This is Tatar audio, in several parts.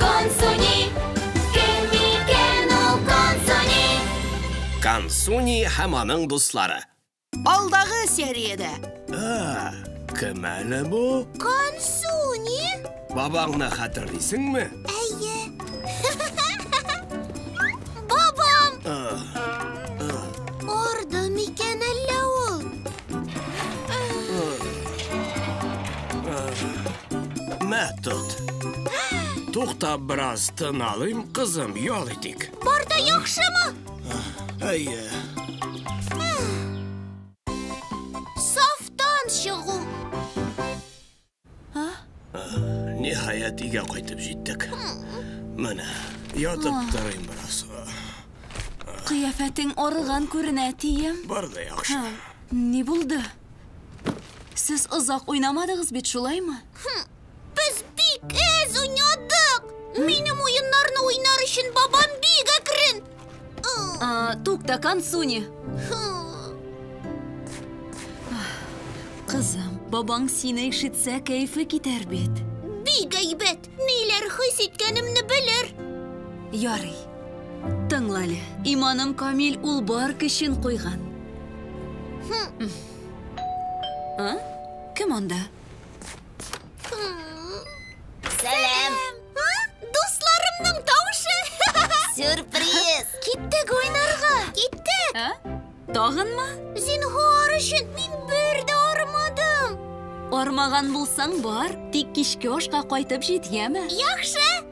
Консуни, кем микән ул Консуни? Консуни һәм аның дуслары. Алдагы сериядә. А, кем әле бу? Консуни? Бабаңны хәтерлисеңме? Әйе. Бабам! Арды микән әллә ул? Мә, тот. Тукта, бераз тын алыйм, кызым, ял итик. Бар да яхшымы? Әйе. Сафтан чыгу. Ниһаять, өйгә кайтып җиттек. Менә, ятып торыйм бераз. Кыяфәтең арыган күренә, әтием. Бар да яхшы. Ни булды? Сез озак уйнамадыгыз бит, шулаймы? Без бик әз уйнадык. Минем уеннарны уйнар өчен бабам бик әкрен. А, тукта, Кансуни. Кызым, бабаң сине ишетсә, кәефе китәр бит. Бик әйбәт. Ниләр хис иткәнемне белер. Ярый. Тыңла әле. Иманым камил, ул бар көчен куйган. А? Кем анда? Сәлам! Дусларымның тавышы! Сюрприз! Киттек уйнарга! Киттек! Ә? Тагынмы? Зинһар өчен мин бер дә армадым! Армаган булсаң бар, тик кичке ашка кайтып җит, яме? Яхшы!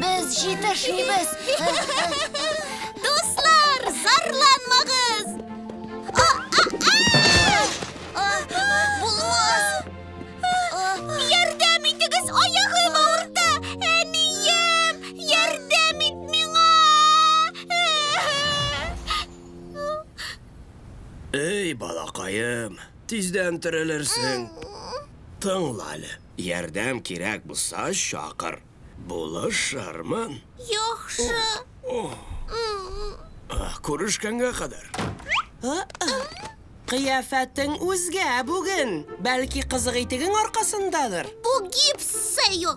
Без җитешмибез. Дуслар, зарланмагыз! Булмас! Ярдәм итегез, аягым авырта! Әнием, ярдәм ит миңа! Эй, балакаем, Тиздән терелерсең. Тыңла әле. Ярдәм кирәк булса, чакыр. Булышырмын. Яхшы. Күрешкәнгә кадәр. Кыяфәтең үзгә бүген. Бәлки, кызык итегең аркасындадыр? Бу гипс, Сэйо.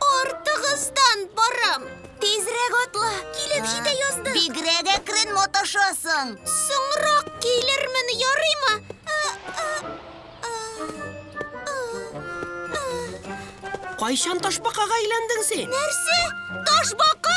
Артыгыздан барам. Тизрәк атла, килеп җитә яздык. Бигрәк әкрен маташасың. Соңрак килермен, ярыймы? Кайчан ташбакага әйләндең син? Нәрсә? Ташбака?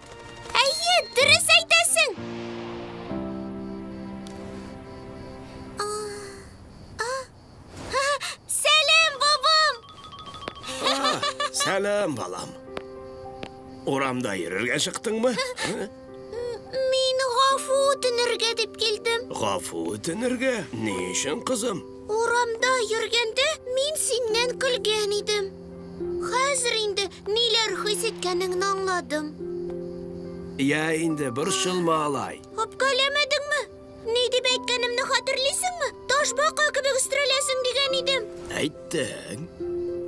Әйе, дөрес әйтәсең. Сәлем, бабам! Сәлем, балам. Урамда йөрергә чыктыңмы? Мин гафу үтенергә дип килдем. Гафу үтенергә? Ни өчен, кызым? Урамда йөргәндә мин синнән көлгән идем. Хәзер инде ниләр хис иткәнеңне аңладым. Я инде, борчылма алай. Үпкәләмәдеңме? Ни дип әйткәнемне хәтерлисеңме? Ташбака кебек өстерәләсең дигән идем. Әйттең.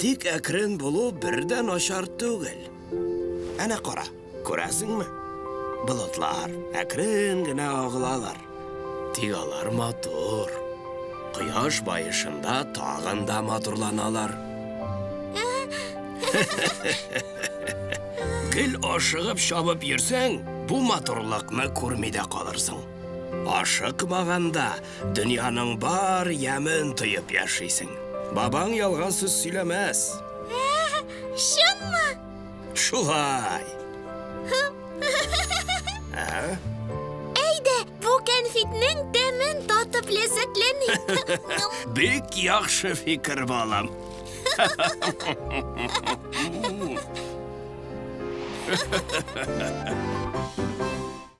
Тик әкрен булу бер дә начар түгел. Әнә кара. Күрәсеңме? Болытлар әкрен генә агылалар. Тик алар матур. Кояш баешында тагын да матурланалар. Гел ашыгып чабып йөрсәң, бу матурлыкны күрми дә калырсың. Ашыкмаганда дөньяның бар ямен тоеп яшисең. Бабаң ялган сүз сөйләмәс. Чынмы? Шулай. Әйдә, бу кәнфитнең тәмен татып ләззәтләник. Бик яхшы фикер, балам.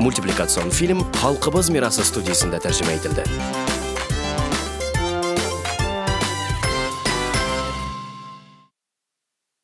Мультипликацион фильм Халкыбыз мирасы студиясендә тәрҗемә ителде.